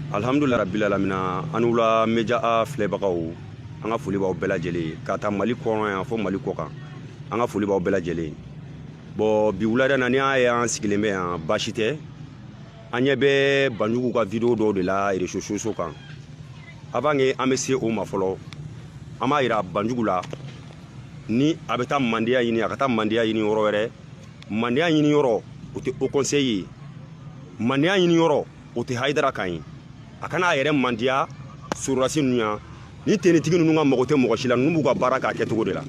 alhamdulila rabbil alamina aw ni wula meja a filɛbagaw an ka foli b'aw bɛɛ lajɛlen ka taa mali kɔnɔ yan fo mali kɔ kan an ka foli b'aw bɛɛ lajɛlen bɔn bi wulada na ni y'a ye an sigilen bɛ yan baasi tɛ an ɲɛ bɛ banjugu ka video dɔw de la réseaux sociaux kan avant que an bɛ se o ma fɔlɔ an b'a yira banjugu la ni a bɛ taa mandiya ɲini a ka taa mandiya ɲini yɔrɔ wɛrɛ mandiya ɲini yɔrɔ o tɛ haut conseil ye mandiya ɲini yɔrɔ o tɛ hayidara kan ye a kana a yɛrɛ mandiya sɔrɔdasi ninnu ye ani tenitigi ninnu ka mago tɛ mɔgɔ si la ninnu b'u ka baara k'a kɛcogo de la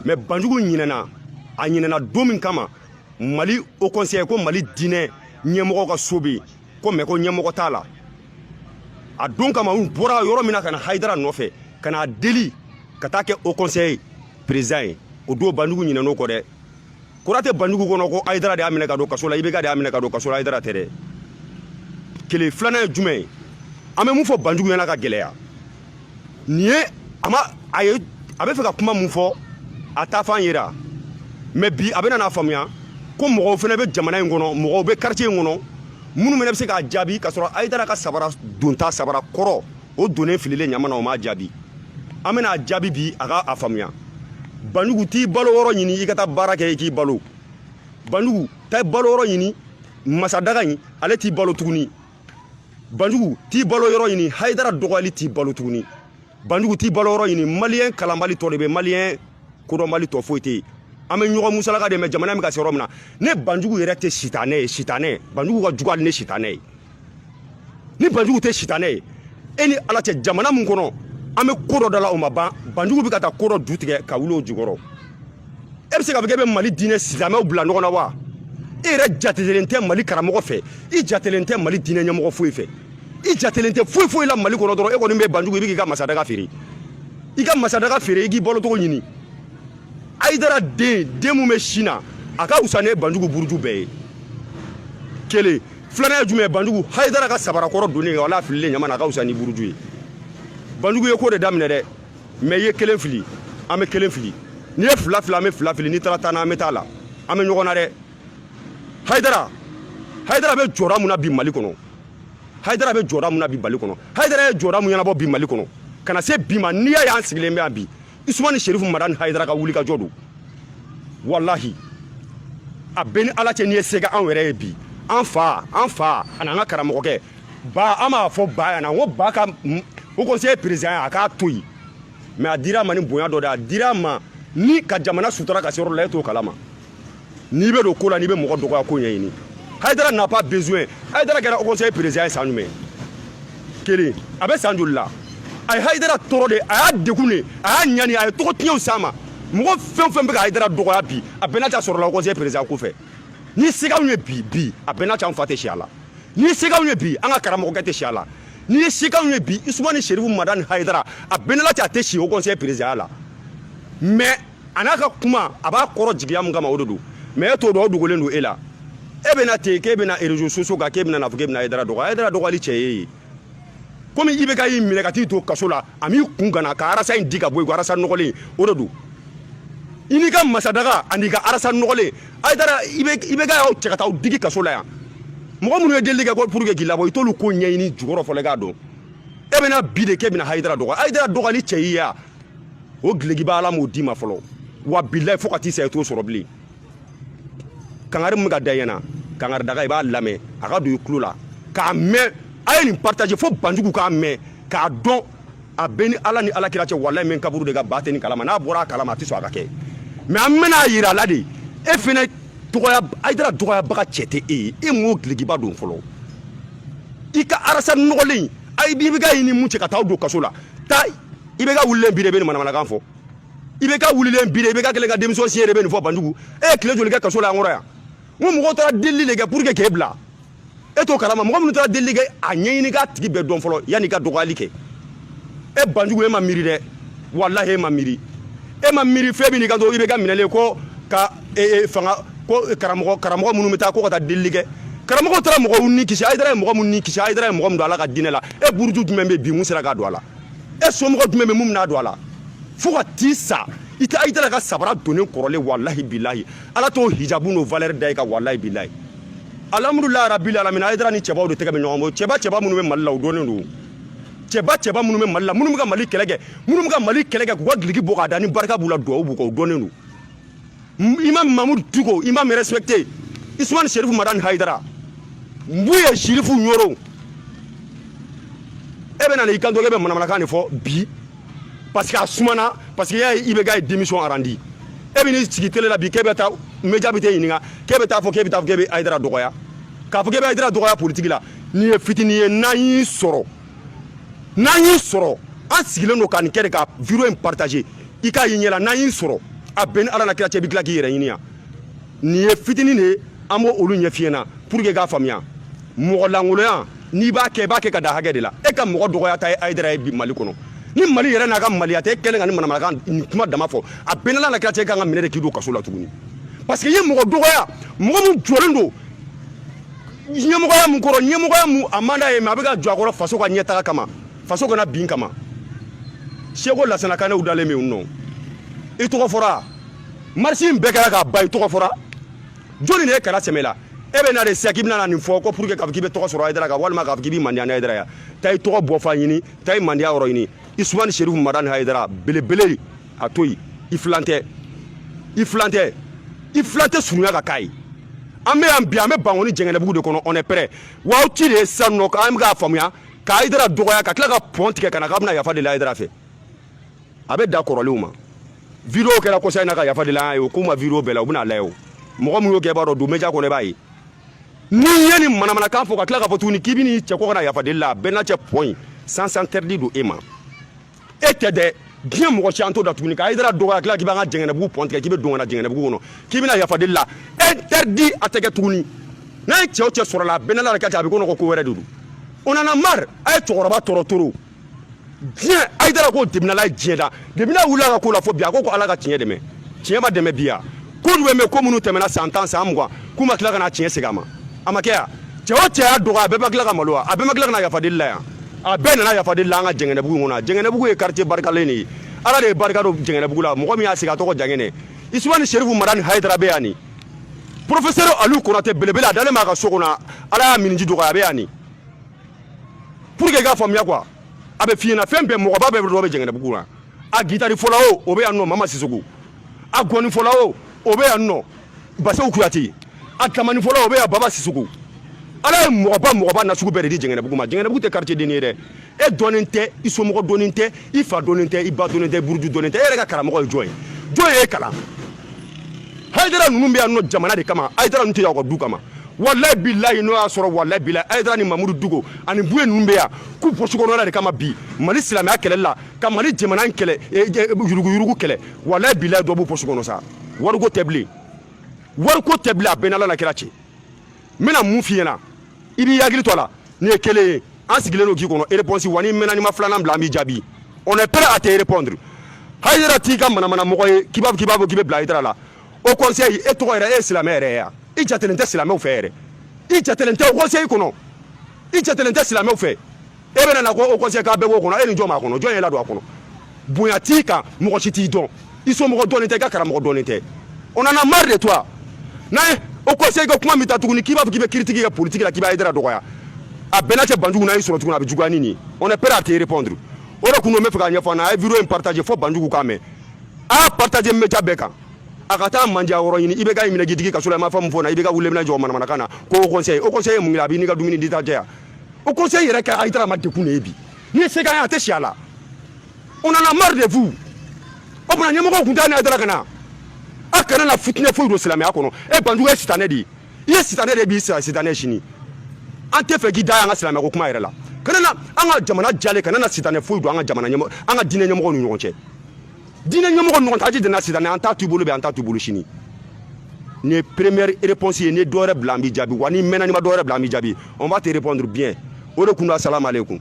mais banjugu ɲinɛna a ɲinɛna don min kama mali haut conseil ko mali diinɛ ɲɛmɔgɔ ka so bɛ ko mais ko ɲɛmɔgɔ t'a la a don kama u bɔra yɔrɔ min na ka na hayidara nɔfɛ ka n'a deli ka taa kɛ haut conseil président ye o don banjugu ɲinɛn'o kɔ dɛ kura tɛ banjugu kɔnɔ ko hayidara de y'a minɛ ka don kaso la ibk de y'a minɛ ka don kaso la hayidara tɛ dɛ kelen filanan ye jumɛn an bɛ mun fɔ banjugu ɲɛna ka gɛlɛya nin ye a ma a ye a bɛ fɛ ka kuma mun fɔ a taafan yera mais bi a bɛna n'a faamuya ko mɔgɔw fana bɛ jamana in kɔnɔ mɔgɔw bɛ quartier in kɔnɔ minnu fana bɛ se k'a jaabi k'a sɔrɔ hayidara ka sabara donta sabara kɔrɔ o donnen fililen ɲama na o m'a jaabi an bɛna a jaabi bi a ka a faamuya banjugu t'i balo yɔrɔ ɲini i ka taa baara kɛ i k'i balo banjugu taa balo yɔrɔ ɲini masadaga in ale t'i balo tuguni banjugu t'i balo yɔrɔ ɲini hayidara dɔgɔyali t'i balo tuguni banjugu t'i balo yɔrɔ ɲini maliyɛn kalanbali tɔ de bɛ maliyɛn kodɔnbali tɔ foyi tɛ yen an bɛ ɲɔgɔn musalaka de mais jamana bɛ ka se yɔrɔ min na ni banjugu yɛrɛ tɛ sitanɛ ye sitanɛ banjugu ka jugu hali ni sitanɛ ye ni banjugu tɛ sitanɛ ye e ni ala cɛ jamana min kɔnɔ an bɛ ko dɔ da la o ma ban banjugu bɛ ka taa ko dɔ ju tigɛ ka wuli o jukɔrɔ e bɛ se ka fɔ k'e bɛ mali diinɛ silamɛw bila ɲɔgɔn na wa e yɛrɛ jatelen tɛ mali karamɔgɔ fɛ i jatelen tɛ mali diinɛ ɲɛmɔgɔ foyi fɛ i jatelen tɛ foyi foyi la mali kɔnɔ dɔrɔn e kɔni bɛ banjugu i bɛ k'i ka masadaga feere i ka masadaga feere i k'i balocogo ɲini hayidara den min bɛ sin na a ka wusa ni banjugu buruju bɛɛ ye kelen filanan ye jumɛn banjugu hayidara ka sabarakɔrɔ donnen wala fililen ɲama na a ka wusa n'i buruju ye banjugu ye ko de daminɛ dɛ mais i ye kelen fili an bɛ kelen fili n'i ye fila fili an bɛ fila fili n'i taara tan na an bɛ taa la an bɛ ɲɔgɔn na dɛ hayidara hayidara bɛ jɔda mun na bi mali kɔnɔ hayidara bɛ jɔda mun na bi mali kɔnɔ hayidara ye jɔda mun ɲɛnabɔ bi mali kɔnɔ ka na se bi ma n'i y'a y'an sigilen bɛ yan bi usumani sherifu madani hayidara ka wuli ka jɔ don walahi a bɛ ni ala cɛ n'i ye se k'anw yɛrɛ ye bi an fa an fa ani an ka karamɔgɔkɛ ba an b'a fɔ ba yan na n ko ba ka haut conseil président ye a k'a to yen mais a dira a ma ni bonya dɔ de a dira a ma ni ka jamana sutura ka se yɔrɔ la e t'o kalama n'i bɛ don ko la n'i bɛ mɔgɔ dɔgɔya ko ɲɛɲini hayidara n'a pas besoin hayidara kɛra haut conseil président ye san jumɛn kelen a bɛ san joli la a ye hayidara tɔɔrɔ de a y'a degun de a y'a ɲani a ye tɔgɔ tiɲɛw s'a ma mɔgɔ fɛn o fɛn bɛ ka hayidara dɔgɔya bi a bɛɛ n'a ta sɔrɔla haut conseil président ko fɛ ni se k'anw ye bi bi a bɛɛ n'a ta an fa tɛ si a la ni se k'anw ye bi an ka karamɔgɔkɛ tɛ si a la ni se k'anw ye bi isumani serifu madani hayidara a bɛɛ n'a ta a tɛ si haut conseil président ya la mais a n'a ka kuma a b'a kɔrɔ jigiya mun kama o de don mɛ e t'o dɔn o dogolen don e la e bɛna ten k'e bɛna réseaux sociaux kan k'e bɛna n'a fɔ k'e bɛna ayidara dɔgɔ ayidara dɔgɔyali cɛ y'e ye komi ibeka y'i minɛ ka t'i to kaso la a m'i kun kana ka arasa in di ka bɔ yen ko arasa nɔgɔlen o de don i n'i ka masadaga an'i ka arasa nɔgɔlen ayidara ibeka y'aw cɛ ka taa aw digi kaso la yan mɔgɔ minnu ye delili kɛ ko pour que k'i labɔ i t'olu ko ɲɛɲini jukɔrɔ fɔlɔ i k'a dɔn e bɛna bi de k'e bɛna hayidara dɔgɔ ayidara dɔgɔyali cɛ y'i ye wa o gilekiba ala m'o d'i ma fɔlɔ wa bilayi fo ka t'i sa i t'o sɔrɔ bilen kangari min bɛ ka da ɲɛna kangari daga i b'a lamɛn a ka don i tulo la k'a mɛn a ye nin partage fo banjugu k'a mɛn k'a dɔn a b'e ni ala ni ala kira cɛ walayi mɛ kaburu de ka ba tɛ nin kalama n'a bɔra a kalama a tɛ sɔn a ka kɛ mɛ an bɛna a yira a la de e fɛnɛ dɔgɔya ayidara dɔgɔyabaga cɛ tɛ e ye e m'o gilekiba don fɔlɔ i ka arasa nɔgɔlen ayi ibeka y'i ni mun cɛ ka taa aw don kaso la taa ibeka wulilen bi de bɛ nin manamanakan fɔ ibeka wulilen bi de ibeka kɛlen ka démission signer de bɛ nin fɔ banjugu e ye tile joli kɛ kaso la an kɔrɔ yan n ko mɔgɔw taara delili de kɛ pour que k'e bila e t'o kalama mɔgɔ minnu taara delili kɛ a ɲɛɲini k'a tigi bɛɛ dɔn fɔlɔ yann'i ka dɔgɔyali kɛ e banjugu e ma miiri dɛ walahi e ma miiri e ma miiri fɛn min n'i ka to ibeka minɛlen ko ka fanga ko karamɔgɔ karamɔgɔ minnu bɛ taa ko ka taa delili kɛ karamɔgɔ taara mɔgɔw ni kisi ayidara ye mɔgɔ minnu ni kisi ayidara ye mɔgɔ min don ala ka diinɛ la e buruju jumɛn bɛ bi mun sera ka don a la e somɔgɔ jumɛn bɛ mun bɛna don a la fo ka t'i sa i tɛ ayidara ka sabara donnen kɔrɔlen walahi bilahi ala t'o hijabu n'o valɛri da i kan walahi bilahi alhamdulilayi rabil alamina ayidara ni cɛbaw de tɛgɛ bɛ ɲɔgɔn bolo cɛba cɛba minnu bɛ mali la u dɔnnen don cɛba cɛba minnu bɛ mali la minnu bɛ ka mali kɛlɛ kɛ minnu bɛ ka mali kɛlɛ kɛ k'u ka giliki bɔ k'a da ni barika b'u la duwawu b'u kan u dɔnnen don imam mamudu diko imam respecté isman sherifu madan haidara mbuye sherifu nyoro e bɛ na na i kanto k'e bɛ manamanakan de fɔ bi parce que a sumana parce que y'a ye ibeka ye démission arandi e bɛ n'i sigi tele la bi k'e bɛ taa média bɛ t'e ɲininka k'e bɛ taa fɔ k'e bɛ taa fɔ k'e bɛ ayidara dɔgɔya k'a fɔ k'e bɛ ayidara dɔgɔya politiki la nin ye fitini ye n'an y'i sɔrɔ n'an y'i sɔrɔ an sigilen don ka nin kɛ de ka video in partager i k'a y'i ɲɛla n'an y'i sɔrɔ a bɛ n ni ala n'a kira cɛ i bɛ tila k'i yɛrɛ ɲini yan nin ye fitinin de ye an b'o olu ɲɛf'i ɲɛna pour que i k'a faamuya mɔgɔ lankoloya n'i b'a kɛ i b'a kɛ ka dan hakɛ de la e ka mɔgɔ dɔgɔyata ye hayidara ye bi mali kɔnɔ ni mali yɛrɛ n'a ka maliya tɛ e kɛlen ka nin manamanakan nin kuma dama fɔ a bɛ n n'ala n'a kira cɛ i kan ka minɛ de k'i don kaso la tuguni parce que i ye mɔgɔ dɔgɔya mɔgɔ min jɔlen don ɲɛmɔgɔya mun kɔrɔ ɲɛmɔgɔya mun a man d'a ye mais a bɛ ka jɔ a kɔrɔ faso ka ɲɛtaga kama faso kana bin kama seku lasana kanɛ dalen bɛ yen nɔ i tɔgɔ fɔra marche in bɛɛ kɛra k'a ban i tɔgɔ fɔra joli de ye kala sɛmɛ la e bɛ na de sisan k'i bɛna nin fɔ ko pour que k'a fɔ k'i bɛ tɔgɔ sɔrɔ hayidara kan walima k'a fɔ k'i bɛ mandiya ni hayidara ya taa i tɔgɔ bɔ fan ɲini taa i mandiya yɔrɔ ɲini usumani serifu madani hayidara belebele a to yen i filan tɛ i filan tɛ i filan tɛ surunya ka k'a ye an bɛ yan bi an bɛ bankoni jɛngɛnɛbugu de kɔnɔ on est prêt wa aw ci de ye sisan nɔ an bɛ k'a faamuya ka hayidara dɔgɔya ka tila ka pɔn tigɛ ka na k'a bɛna yafa deli hayidara fɛ a bɛ da kɔrɔlenw ma video kɛra kɔsa in na ka yafa deli an ye o k'u ma video bɛɛ la u bɛna lajɛ o mɔgɔ min y'o kɛ i b'a dɔn don média kɔnɔ i b'a ye n'i ye nin manamanakan fɔ ka tila k'a fɔ tuguni k'i bɛ n'i cɛ kɔ ka na yafa deli la a bɛ n n'ala cɛ pɔn in sens interdit don e ma e tɛ dɛ diɲɛ mɔgɔ si an t'o da tuguni ka hayidara dɔgɔya tila k'i b'an ka jɛngɛnɛbugu pɔn tigɛ k'i bɛ don ka na jɛngɛnɛbugu kɔnɔ k'i bɛna yafa deli la interdit a tɛ kɛ tuguni n'an ye cɛ o cɛ sɔrɔ la a bɛ n n'ala kira cɛ a bɛ ko nɔgɔ ko wɛrɛ de don on en a marre a ye cɛkɔrɔba tɔɔrɔ trop diɲɛ hayidara ko daminɛna ye diɲɛ da daminɛ wulila ka ko la fo bi a ko ko ala ka tiɲɛ dɛmɛ tiɲɛ ma dɛmɛ bi ya ko jumɛn bɛ ko minnu tɛmɛna san tan san mugan k'u ma tila ka na tiɲɛ segin a ma a ma kɛ yan cɛ o cɛ y'a dɔgɔya a bɛɛ ma tila ka malo wa a bɛɛ ma tila ka na yafa deli la yan a bɛɛ nana yafa deli la an ka jɛngɛnɛbugu kɔnɔ jɛngɛnɛbugu ye quartier barikalen de ye ala de ye barika don jɛngɛnɛbugu la mɔgɔ min y'a sigi a tɔgɔ jangɛnɛ usumani serifu madani hayidara bɛ yan ni professeur aliou konate belebele a dalen b'a ka so kɔnɔ ala y'a miniji dɔgɔya a bɛ yan ni pour que i k'a faamuya quoi a bɛ f'i ɲɛna fɛn bɛɛ mɔgɔba bɛɛ dɔ bɛ jɛngɛnɛbugu la a gitari fɔla o o bɛ yan nɔ mama sisoko a ngɔni fɔla o o bɛ yan nɔ baseku kuyate a tamani fɔla o bɛ yan baba sisoko ala ye mɔgɔba mɔgɔba nasugu bɛɛ de di jɛngɛnɛbugu ma jɛngɛnɛbugu tɛ quartier den ye dɛ e dɔnnen tɛ i somɔgɔ dɔnnen tɛ i fa dɔnnen tɛ i ba dɔnnen tɛ i buruju dɔnnen tɛ e yɛrɛ ka karamɔgɔ ye jɔn ye jɔn ye e kalan Hayidara ninnu bɛ yan nɔ jamana de kama Hayidara ninnu tɛ yan u ka du kama walayi bilayi n'o y'a sɔrɔ walayi bilayi Hayidara ni Mamudu Diko ani Buye ninnu bɛ yan k'u posi kɔnɔna de kama bi Mali silamɛya kɛlɛli la ka Mali jamana in kɛlɛ e, e, yuruguyurugu kɛlɛ walayi bilayi dɔ b'u posi kɔnɔ sa wariko tɛ bilen wariko tɛ bilen a bɛ n n'Ala n'a kira cɛ n bɛna min f'i ɲɛna i b'i hakili to a la nin ye kelen ye an sigilen don k'i kɔnɔ réponse wa n'i mɛnna n'i ma filanan bila an b'i jaabi on est prêt à te répondre hayidara t'i ka manamana mɔgɔ ye k'i b'a fɔ k'i b'a fɔ k'i bɛ bila hayidara la haut conseil e tɔgɔ yɛrɛ e ye silamɛ yɛrɛ ye ya i jatelen tɛ silamɛw fɛ yɛrɛ i jatelen tɛ haut conseil kɔnɔ i jatelen tɛ silamɛw fɛ e bɛna na ko haut conseil k'a bɛɛ b'o kɔnɔ e ni jɔn b'a kɔnɔ jɔn ye ladon a kɔnɔ bonya t'i kan mɔgɔ si t'i dɔn i somɔgɔ dɔnnen tɛ i ka karamɔgɔ dɔnnen tɛ on en a marre de toi n'a ye haut conseil ka kuma min ta tuguni k'i b'a fɔ k'i bɛ critique kɛ politiki la k'i bɛ ayidara dɔgɔya a bɛɛ n'a cɛ banjugu n'a y'i sɔrɔ tuguni a bɛ juguya ni nin ye on est prêt à te répondre o de kun don n bɛ fɛ k'a ɲɛfɔ an na a ye video in partage fo banjugu k'a mɛn a y'a partage media bɛɛ kan a ka taa mandiya yɔrɔ ɲini i bɛ ka minɛ k'i digi ka so la i ma fɛn min fɔ na i bɛ ka wuli minɛ jɔ manamanakan na ko haut conseil haut conseil ye mun ye a b'i n'i ka dumuni di ta jɛya haut conseil yɛrɛ kɛ ayidara ma degun de ye bi ni sɛgɛn ye a tɛ si a la on en a marre de vous o tuma ɲɛmɔgɔw tun t'a ni ayidara ka na a kana na fitinɛ foyi don silamɛya kɔnɔ e banjugu ye sitanɛ de ye i ye sitanɛ de ye bi sitanɛ sini an tɛ fɛ k'i da an ka silamɛya ko kuma yɛrɛ la kana na an ka jamana jalen kana na sitanɛ foyi don an ka jamana ɲɛmɔgɔ an ka diinɛ ɲɛmɔgɔw ni ɲɔgɔn cɛ diinɛ ɲɛmɔgɔ ɲɔgɔn cɛ an tɛ jɛn n'a sitanɛ an t'a to i bolo bi an t'a to i bolo sini nin ye première réponse ye n'i ye dɔwɛrɛ bila an b'i jaabi wa n'i mɛnna n'i ma dɔwɛrɛ bila an b'i jaabi on va te répondre bien o de kun don asalamu aleykum